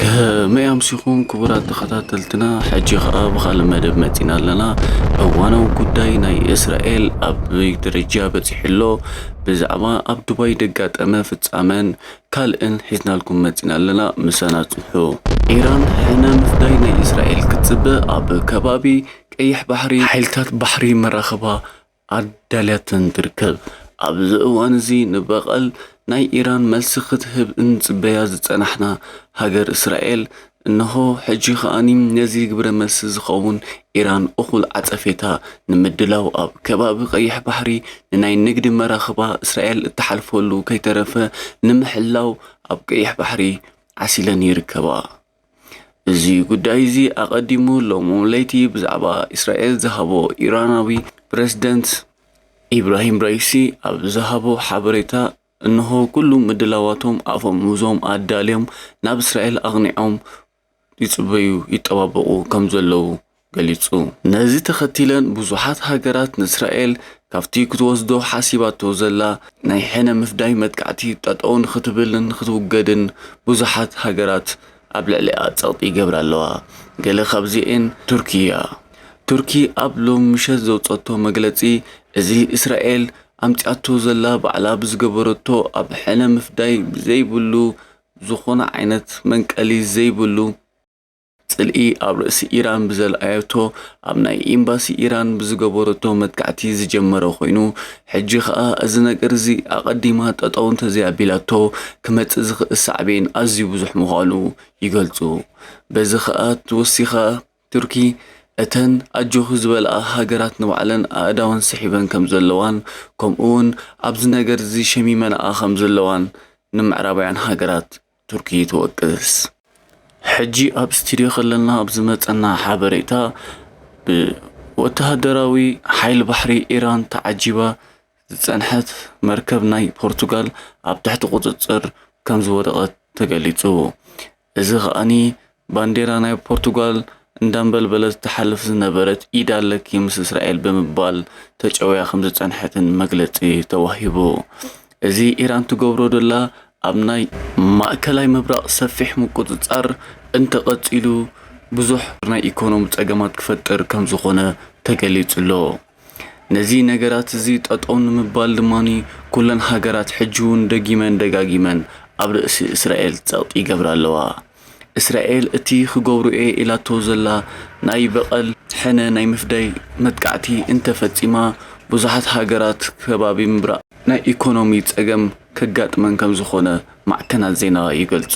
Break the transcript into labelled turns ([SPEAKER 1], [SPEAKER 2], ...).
[SPEAKER 1] ከመይ ኣምሲኹም ክቡራት ተኸታተልትና ሕጂ ኸኣ ብኻልእ መደብ መጺና ኣለና እዋናዊ ጉዳይ ናይ እስራኤል ኣበይ ደረጃ በጺሑ ኣሎ ብዛዕባ ኣብ ዱባይ ደጋጠመ ፍጻመን ካልእን ሒዝናልኩም መጺና ኣለና ምሳና ጽንሑ ኢራን ሕነ ምፍዳይ ናይ እስራኤል ክትጽበ ኣብ ከባቢ ቀይሕ ባሕሪ ሓይልታት ባሕሪ መራኽባ ኣዳልያተን ትርከብ። ኣብዚ እዋን'ዚ ንበቐል ናይ ኢራን መልሲ ክትህብ እንጽበያ ዝጸናሕና ሃገር እስራኤል፣ እነሆ ሕጂ ከኣ ነዚ ግብረመልሲ ዝኸውን ኢራን እኹል ዓጸፌታ ንምድላው ኣብ ከባቢ ቀይሕ ባሕሪ ንናይ ንግዲ መራኽባ እስራኤል እትሓልፈሉ ከይተረፈ ንምሕላው ኣብ ቀይሕ ባሕሪ ዓሲለን ይርከባ። እዚ ጉዳይ እዚ ኣቐዲሙ ሎሚ ለይቲ ብዛዕባ እስራኤል ዝሃቦ ኢራናዊ ፕረዚደንት ኢብራሂም ራይሲ ኣብ ዝሃቦ ሓበሬታ እንሆ ኩሉ ምድላዋቶም ኣፈሙዞም ኣዳልዮም ናብ እስራኤል ኣቕኒዖም ይጽበዩ ይጠባበቑ ከም ዘለዉ ገሊጹ። ነዚ ተኸቲለን ብዙሓት ሃገራት ንእስራኤል ካብቲ ክትወስዶ ሓሲባቶ ዘላ ናይ ሕነ ምፍዳይ መጥቃዕቲ ጠጠው ንኽትብልን ኽትውገድን ብዙሓት ሃገራት ኣብ ልዕሊኣ ጸቕጢ ይገብራ ኣለዋ። ገለ ካብዚኤን ቱርኪ እያ። ቱርኪ ኣብ ሎሚ ምሸት ዘውጸቶ መግለጺ እዚ እስራኤል ኣምጺኣቶ ዘላ ባዕላ ብዝገበረቶ ኣብ ሕነ ምፍዳይ ዘይብሉ ዝኾነ ዓይነት መንቀሊ ዘይብሉ ጽልኢ ኣብ ርእሲ ኢራን ብዘልኣዮቶ ኣብ ናይ ኢምባሲ ኢራን ብዝገበረቶ መጥቃዕቲ ዝጀመረ ኮይኑ ሕጂ ከኣ እዚ ነገር እዚ ኣቐዲማ ጠጠው እንተዘይኣቢላቶ ክመጽእ ዝኽእል ሳዕቤን ኣዝዩ ብዙሕ ምዃኑ ይገልጹ። በዚ ከኣ ወሲኻ ቱርኪ እተን ኣጆኺ ዝበልኣ ሃገራት ንባዕለን ኣእዳወን ስሒበን ከምዘለዋን ከምኡ'ውን ኣብዚ ነገር እዚ ሸሚመንኣ ከምዘለዋን ንምዕራባውያን ሃገራት ቱርኪ ትወቅስ። ሕጂ ኣብ ስቱድዮ ከለና ኣብ ዝመጸና ሓበሬታ ብወተሃደራዊ ሓይሊ ባሕሪ ኢራን ተዓጂባ ዝጸንሐት መርከብ ናይ ፖርቱጋል ኣብ ትሕቲ ቁጽጽር ከምዝወደቐት ተገሊጹ። እዚ ከኣ ባንዴራ ናይ ፖርቱጋል እንዳንበልበለት ትሓልፍ ዝነበረት ኢድ ኣለኪ ምስ እስራኤል ብምባል ተጨውያ ከም ዝጸንሐትን መግለጺ ተዋሂቡ። እዚ ኢራን ትገብሮ ዘላ ኣብ ናይ ማእከላይ ምብራቕ ሰፊሕ ምቁጽጻር እንተቐጺሉ ብዙሕ ናይ ኢኮኖሚ ጸገማት ክፈጥር ከም ዝኾነ ተገሊጹ'ሎ። ነዚ ነገራት እዚ ጠጠው ንምባል ድማ ኩለን ሃገራት ሕጂ እውን ደጊመን ደጋጊመን ኣብ ርእሲ እስራኤል ጸቕጢ ይገብራ ኣለዋ። እስራኤል እቲ ክገብሮ'የ ኢላቶ ዘላ ናይ በቐል፣ ሕነ ናይ ምፍዳይ፣ መጥቃዕቲ እንተ ፈጺማ ብዙሓት ሃገራት ከባቢ ምብራቕ ናይ ኢኮኖሚ ጸገም ከጋጥመን ከም ዝኾነ ማዕከናት ዜና ይገልጹ።